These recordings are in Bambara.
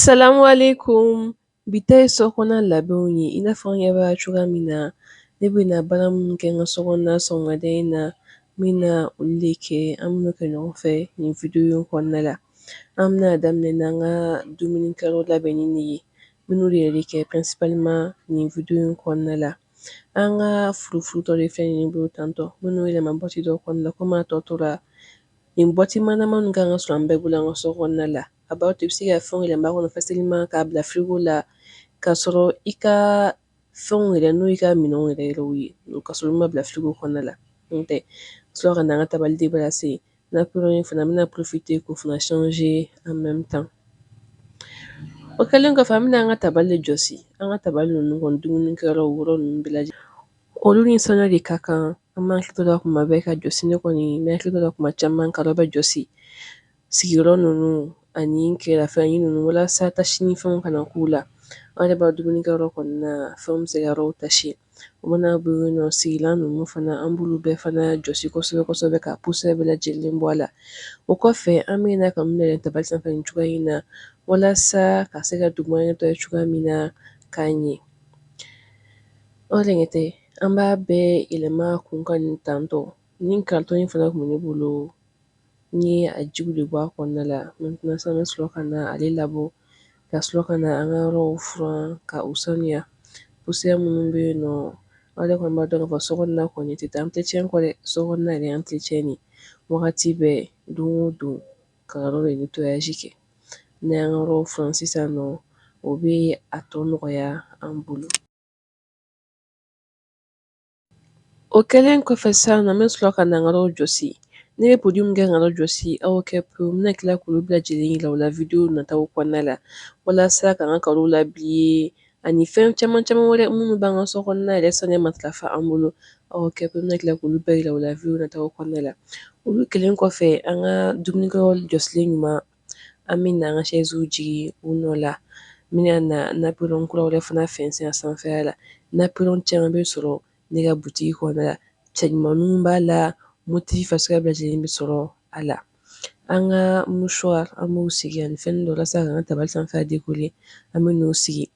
Salamu alekum bi ta ye sokɔnɔna labɛnw ye i n'a fɔ an ɲɛ b'a cogoya min na ne bɛna baara minnu kɛ n ka sokɔnɔna sɔgɔmada in na n bɛna olu de kɛ an bɛn'o kɛ ɲɔgɔn fɛ nin video kɔnɔna la an bɛna daminɛ n'an ka dumunikɛyɔrɔ labɛnni de ye n bɛn'o de yɛrɛ kɛ principalement nin video in kɔnɔna la an ka furufuru dɔ de filɛ nin ye ne bolo tantɔ n bɛn'o yɛlɛma bɔti dɔ kɔnɔna la komi a tɔ tora Nin bɔti manamanin ka kan ka sɔrɔ an bɛɛ bolo an ka so kɔnɔna la a b'a to i bɛ se ka fɛn yɛlɛma a kɔnɔ facilement k'a bila frigo la k'a sɔrɔ i ka fɛn yɛrɛ n'o y'i ka minɛn yɛrɛ yɛrɛ ye k'a sɔrɔ i m'a bila frigo kɔnɔna la n tɛ sɔrɔ ka na an ka tabali débarrasser nappe in fana n bɛna profiter k'o fana changer en même temps o kɛlen kɔfɛ an bɛna an ka tabali jɔsi an ka tabali ninnu dumunikɛyɔrɔ yɔrɔ ninnu bɛɛ la Olu ni sanuya de ka kan an b'an hakili to la kuma bɛɛ ka jɔsi ne kɔni n bɛ n hakili to la kuma caman ka bɛɛ jɔsi sigiyɔrɔ ninnu ani kɛrɛfɛfɛnnin ninnu walasa tache ni fɛnw kana k'u la an yɛrɛ b'a dɔn dumunikɛyɔrɔ kɔni nafɛn bɛ se ka yɔrɔ tacher o mana bɔ yen nɔ sigilan ninnu fana an b'olu bɛɛ fana jɔsi kosɛbɛ kosɛbɛ ka poussière bɛɛ lajɛlen bɔ a la o kɔfɛ an bɛ na k'u yɛlɛn tabali sanfɛ nin cogoya in na walasa ka se ka duguma nettoyer cogoya min na ka ɲɛ O de kɛtɔ an b'a bɛɛ yɛlɛma kun kan nin tantɔ nin carton in fana tun bɛ ne bolo n ye a jiw de bɔ a kɔnɔna la maintenant sisan n bɛ sɔrɔ ka na ale labɔ ka sɔrɔ ka na an ka yɔrɔ furan ka u sanuya uya minnu bɛ yen nɔ aw yɛrɛ kɔni b'a dɔn k'a fɔ sokɔnɔna kɔni tɛ taa entretien kɔ dɛ sokɔnɔna entretien nin wagati bɛɛ don o don ka yɔrɔ de bɛ tosi kɛ n'an y'an ka yɔrɔ furan sisan nɔ o bɛ a tɔ nɔgɔya an bolo O kɛlen kɔfɛ sisan nɔ n bɛ sɔrɔ ka na n ka yɔrɔ jɔsi ne bɛ produit min kɛ ka yɔrɔ jɔsi aw kɛ pe n bɛna tila k'olu bɛɛ lajɛlen yira aw la video nata kɔnɔna la walasa ka n ka carreaux labriller ani fɛn caman caman wɛrɛ minnu b'an ka so kɔnɔna yɛrɛ sanuya matarafa an bolo aw kɛ pe n bɛna tila k'olu bɛɛ yira aw la video nata kɔnɔna la olu kɛlen kɔfɛ an ka dumunikɛyɔrɔ jɔsilen ɲuman an bɛ na an ka chaise jigin u nɔ la, n bɛna na napperon kura wɛrɛ fana fɛnsɛn a sanfɛla la, napperon caman bɛ sɔrɔ ne ka boutique kɔnɔna la, cɛɲumanninw b'a la, motif suguya bɛɛ lajɛlen bɛ sɔrɔ a la, an ka mouchoir an b'o sigi ani fɛn dɔ walasa k'an ka tabali sanfɛla decorer an bɛn'o sigi,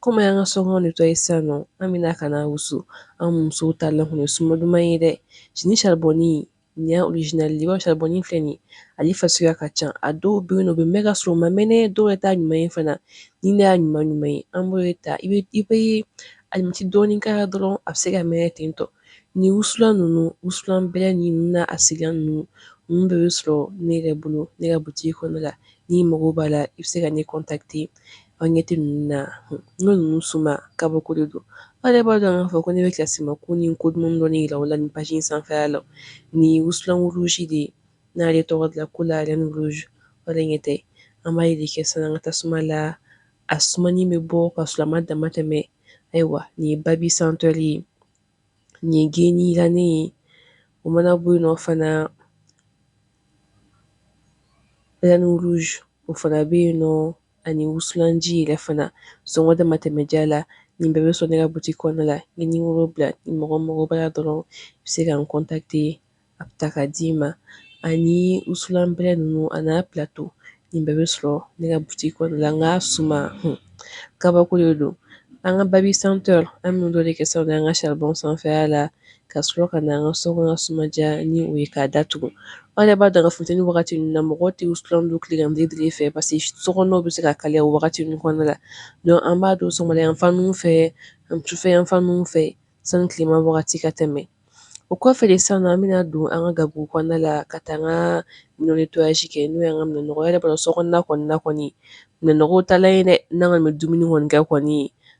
comme an y'an ka sokɔnɔ nettoyer sisan nɔ, an bɛna ka na wusu an musow taalan kɔni ye suma duman ye dɛ, ni charbon Nin y'a orijinali ye i b'a saribɔn filɛ nin ye ale fasuguya ka ca a dɔw bɛ yen nɔ u bɛ mɛn ka sɔrɔ u ma mɛnɛ dɔw yɛrɛ t'a ɲuman ye fana ni ne y'a ɲuman ɲuman ye an b'o ta i bɛ i bɛ alimɛti dɔɔni k'a la dɔrɔn a bɛ se ka mɛnɛ ten tɔ ni wusulan ninnu wusulan bɛlɛ ni ninnu n'a sigilan ninnu ninnu bɛɛ bɛ sɔrɔ ne yɛrɛ bolo ne ka butigi kɔnɔna la n'i mago b'a la i bɛ se ka ne contacter aw ɲɛ tɛ ninnu na n'o ninnu suma kabako de don aw yɛrɛ b'a dɔn k'a fɔ ko ne bɛ kisiman ko ni ko duman dɔ jira aw la nin pazi in sanfɛya la nin wusulan kurusi de ye n'a ye tɔgɔ dilan ko la niz ɲɛ tɛ an b'a de kɛ sisan an ka tasuma suma la a suma in bɛ bɔ ka sɔrɔ a ma dama tɛmɛ ayiwa nin ye babi senteur de ye nin geni dilannen ye o mana bɔ yen nɔ fana o fana bɛ yen nɔ ani wusulanji yɛrɛ fana sɔngɔ dama tɛmɛ diya la nin bɛɛ bɛ sɔrɔ ne ka butigi kɔnɔna la n ye nimɔrɔ bila ni mɔgɔ mago b'a la dɔrɔn i bɛ se ka n kɔntakite an bɛ taa k'a d'i ma ani wusulan bɛrɛ ninnu an'a pilato nin bɛɛ bɛ sɔrɔ ne ka butigi kɔnɔna la n k'a suma hun kabako de don an ka babi senteur an bɛ nin dɔ de kɛ sisan an ka saribɔn sanfɛya la ka sɔrɔ ka na an ka so kɔnɔ suma diya ni o ye k'a datugu aw yɛrɛ b'a dɔn k'a fɔ funteni wagati ninnu na mɔgɔ tɛ wusulan don tilegan fɛ parce que so kɔnɔw bɛ se ka kalaya o wagati ninnu kɔnɔna la donc an b'a don sɔgɔmada yan fan ninnu fɛ ani sufɛ yan fan ninnu fɛ sani tilema wagati ka tɛmɛ o kɔfɛ de sisan nɔ an bɛna don an ka gabugu kɔnɔna la ka taa an ka minɛn nettoyage kɛ n'o y'an ka minɛnnɔgɔ yɛrɛ b'a dɔn so kɔnɔna kɔni na kɔni minɛnnɔgɔw taalan ye dɛ n'an kɔni bɛ dumuni kɔni kɛ kɔni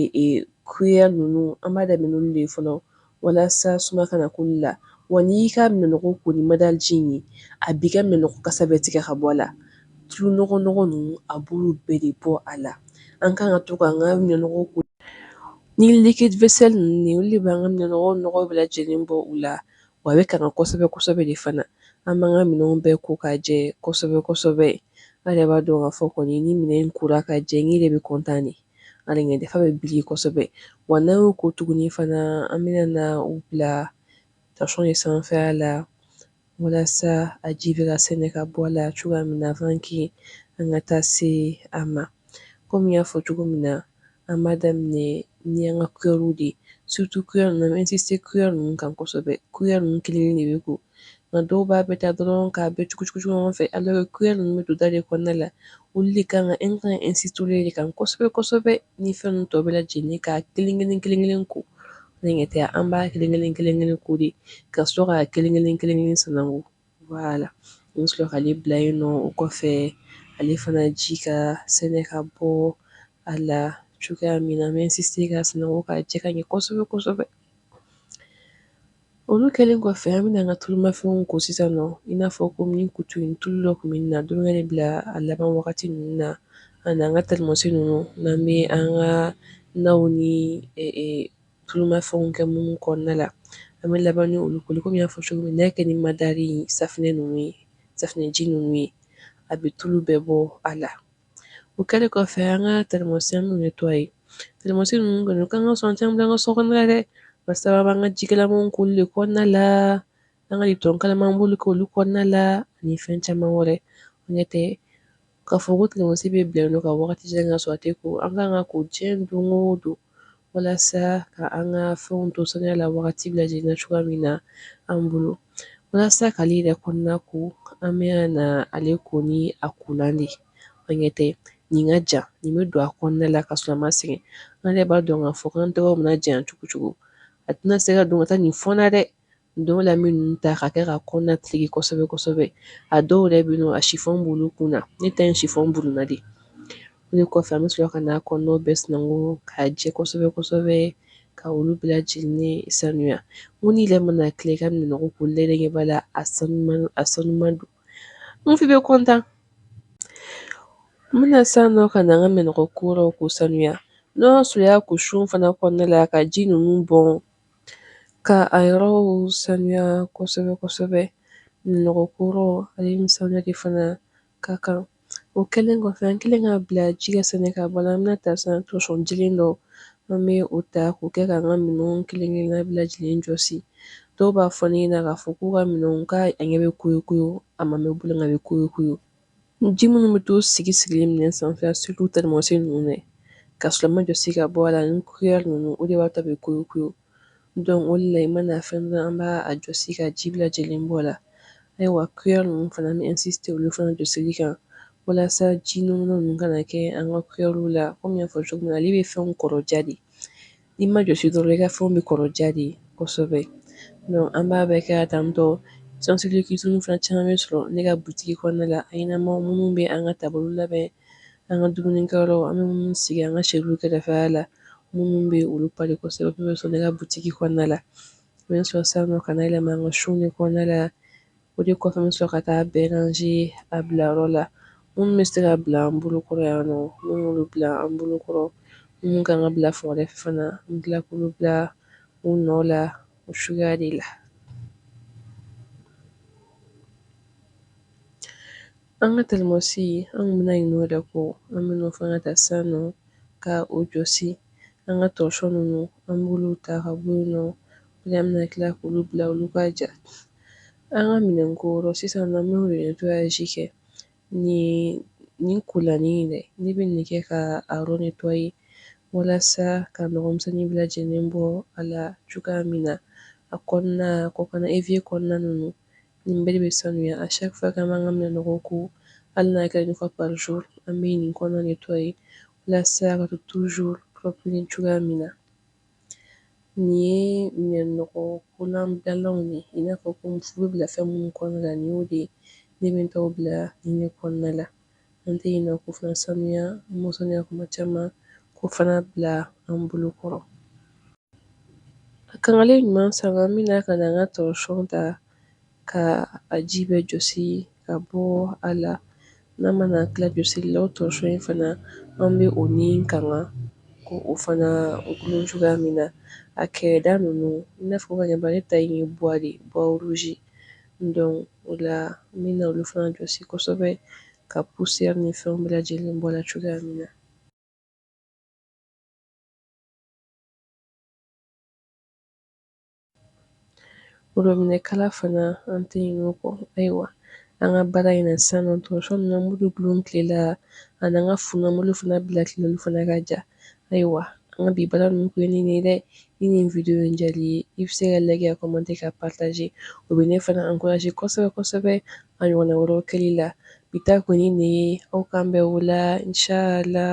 ee kuyɛri ninnu an b'a daminɛ ninnu de fɔlɔ walasa suma kana k'u la wa n'i y'i ka minɛnɔgɔ ko ni madaji in ye a b'i ka minɛnɔgɔ kasa bɛɛ tigɛ ka bɔ a la tulu nɔgɔnɔgɔ ninnu a b'olu bɛɛ de bɔ a la an ka kan ka to k'an ka minɛnɔgɔ ko ni liquide vaisselle ninnu olu de b'an ka minɛnɔgɔ nɔgɔ bɛɛ lajɛlen bɔ u la wa a bɛ kanga kosɛbɛ kosɛbɛ de fana an b'an ka minɛn bɛɛ ko ka jɛ kosɛbɛ kosɛbɛ an yɛrɛ b'a dɔn ka fɔ kɔni ni minɛn in kora ka jɛ n yɛrɛ bɛ kɔntan de hali a ɲɛda fan bɛ briller kosɛbɛ wa n'an y'o ko tuguni fana an bɛna na u bila tasɔn de sanfɛya la walasa a ji bɛ ka sɛnɛ ka bɔ a la cogoya min na avant que an ka taa se a ma kɔmi n y'a fɔ cogo min na an b'a daminɛ ni an ka kuyɛriw de ye surtout kuyɛri ninnu an bɛ insister kuyɛri ninnu kan kosɛbɛ kuyɛri ninnu kelen-kelen de bɛ ko nka dɔw b'a bɛɛ ta dɔrɔn k'a bɛɛ cugucugu ɲɔgɔn fɛ alors que kuyɛri ninnu bɛ don da de kɔnɔna la olu de kan ka e ka insister de kan kosɛbɛ kosɛbɛ ni fɛn tɔ bɛɛ lajɛlen ka kelen-kelen kelen-kelen ko aw ɲɛ tɛ an b'a kelen-kelen kelen-kelen ko de ka sɔrɔ ka kelen-kelen kelen-kelen sananko voilà an bɛ sɔrɔ k'ale bila yen nɔ o kɔfɛ ale fana ji ka sɛnɛ ka bɔ a la cogoya min na an bɛ se k'a sananko ka jɛ ka ɲɛ kosɛbɛ kosɛbɛ Olu kɛlen kɔfɛ an bɛna an ka tulumafɛnw ko sisan nɔ i n'a fɔ kɔmi kutu in tulu dɔ tun bɛ min na dukɛnɛ bila a laban wagati ninnu na ani an ka tɛrimɔsi ninnu n'an bɛ an ka na ni tulumafɛnw kɛ minnu kɔnɔna la an bɛ laban ni olu koli kɔmi n y'a fɔ cogo min kɛ ni madari safunɛ ninnu ye safunɛji ninnu ye a bɛ tulu bɛɛ bɔ a la O kɛlen kɔfɛ an ka tɛrimɔsi an b'u nettoyer tɛrimɔsi ninnu kɔni kan ka sɔn caman ka so kɔnɔ dɛ barisa an b'an ka jikalamanw k'olu de kɔnɔna la an ka lipitɔn kalaman b'olu k'olu kɔnɔna la ani fɛn caman wɛrɛ ɲɛ tɛ k'a fɔ ko tɛrimɔsi bɛ bila yen nɔ ka waati jan k'a sɔrɔ a tɛ ko an ka kan k'a ko diɲɛ don o don walasa ka an ka fɛnw to saniya la wagati bɛɛ lajɛlen na cogoya min na an bolo walasa k'ale yɛrɛ kɔnɔna ko an bɛ na ale ko ni a kolan de an ɲɛ tɛ nin ka jan nin bɛ don a kɔnɔna la k'a sɔrɔ an ma sɛgɛn an yɛrɛ b'a dɔn k'a fɔ k'an tɛgɛ mana janya cogo cogo a tɛna se ka don ka taa nin fɔn na dɛ o de la an bɛ ninnu ta k'a kɛ k'a kɔnɔna tereke kosɛbɛ kosɛbɛ a dɔw yɛrɛ bɛ yen nɔ a sifɔn b'olu kun na ne ta in sifɔn b'o kun na de o de kɔfɛ an bɛ sɔrɔ ka n'a kɔnɔna bɛɛ sananko k'a jɛ kosɛbɛ kosɛbɛ ka olu bɛɛ lajɛlen sanuya n ko ne yɛrɛ mana tila ka minɛn ko la n ɲɛ b'a la a sanu a sanuman don n bɛ kɔntan n bɛna san nɔ ka na an ka minɛnkoyɔrɔ ko sanuya n'o y'a sɔrɔ i y'a ko so in fana kɔnɔna la ka ji ninnu bɔn Ka a yɔrɔw saniya kosɛbɛ kosɛbɛ minɛnnɔgɔ koyɔrɔ ale ni saniya de fana ka kan o kɛlen kɔfɛ an kɛlen k'a bila ji ka sɛnɛ ka bɔ a la an bɛna ta san torchon jɛlen dɔ an bɛ o ta k'o kɛ ka an ka minɛn kelen kelenna bɛɛ lajɛlen jɔsi dɔw b'a fɔ ne ɲɛna k'a fɔ k'u ka minɛn ka a ɲɛ bɛ koyi koyi a ma mɛɛn u bolo nka a bɛ koyi koyi Ji minnu bɛ to sigi sigilen minɛn sanfɛ surtout tɛrimɔsi ninnu k'a sɔrɔ a ma jɔsi ka bɔ a la ni cuillère ninnu o de b'a to a bɛ koyi koyi donc o la i mana fɛn an b'a jɔsi ka ji bɛɛ lajɛlen bɔ a la ayiwa cuillère ninnu fana an bɛ insister olu fana jɔsili kan walasa ji nɔnɔ ninnu kana kɛ an ka cuillère la kɔmi n y'a fɔ cogo min ale bɛ fɛn kɔrɔya de I ma jɔsi dɔrɔn i ka fɛnw bɛ kɔrɔya de kosɛbɛ donc an b'a bɛɛ kɛ ka tan torchon in fana caman bɛ sɔrɔ ne ka boutique kɔnɔna la a ɲɛnama minnu bɛ an ka tabali labɛn an ka dumunikɛyɔrɔ an bɛ minnu sigi an ka assiette kɛrɛfɛla la minnu bɛ olu pari kosɛbɛ olu bɛ sɔrɔ ne ka boutique kɔnɔna la n bɛ sɔrɔ sisan nɔ ka na yɛlɛma an ka so in kɔnɔna la O de kɔfɛ n bɛ sɔrɔ ka taa a bɛɛ ranger a bilayɔrɔ la minnu bɛ se ka bila an bolokɔrɔ yan nɔ n b'olu bila an bolokɔrɔ minnu ka kan ka bila fan wɛrɛ fana n bɛ tila k'olu bila u nɔ la o suguya de la an ka tɛrimɔsi an tun bɛna ɲinɛ o de kɔ an b'o fana ta san nɔ ka o jɔsi an ka torchon ninnu an b'olu ta ka bɔ yen nɔ An bɛna tila k'olu bila olu ka ja an ka minɛnkoyɔrɔ sisan nɔ an bɛ yen nettoyage kɛ nin nin kolanin in dɛ ne bɛ nin kɛ ka a yɔrɔ nettoyer walasa ka nɔgɔmisɛnnin bɛɛ lajɛlen bɔ a la cogoya min na a kɔnɔna kɔkanna évier kɔnɔna ninnu nin bɛɛ de bɛ sanuya à chaque fois k'an b'an ka minɛnɔgɔ ko hali n'a kɛ ɲɔgɔn par jour an bɛ nin kɔnɔna nettoyer walasa ka to toujours cogoya min na Nin ye minɛnɔgɔ kolan bilalanw ye i n'a fɔ ko fu bɛ bila fɛn minnu kɔnɔna la nin y'o de ye ne bɛ n taw bila nin de kɔnɔna la an tɛ ɲinɛ k'o fana sanuya an b'o sanuya kuma caman k'o fana bila an bolo kɔrɔ a kangalen ɲuman sa an bɛna ka na an ka torchon ta ka a ji bɛɛ jɔsi ka bɔ a la n'an mana tila jɔsili la o torchon in fana an bɛ o ni kanga ko o fana o dulon cogoya min na a kɛrɛda ninnu i n'a fɔ ka ɲɛba ta in ye bois de bois rouge don o la n bɛna olu fana jɔsi kosɛbɛ ka poussière ni fɛnw bɛɛ lajɛlen bɔ a la cogoya min na Robinet kala fana an tɛ ɲinɛ o kɔ ayiwa an ka baara in na sisan nɔ torchon ninnu an b'olu dulon tile la ani an ka fu ninnu an b'olu fana bila tile la olu fana ka ja ayiwa an ka bi baara ninnu tun ye nin de ye dɛ ni nin video in diyar'i ye i bɛ se ka liker ka commenter ka partager o bɛ ne fana encourager kosɛbɛ kosɛbɛ a ɲɔgɔnna wɛrɛw kɛli la bi ta kɔni nin ye aw k'an bɛn o la inchallah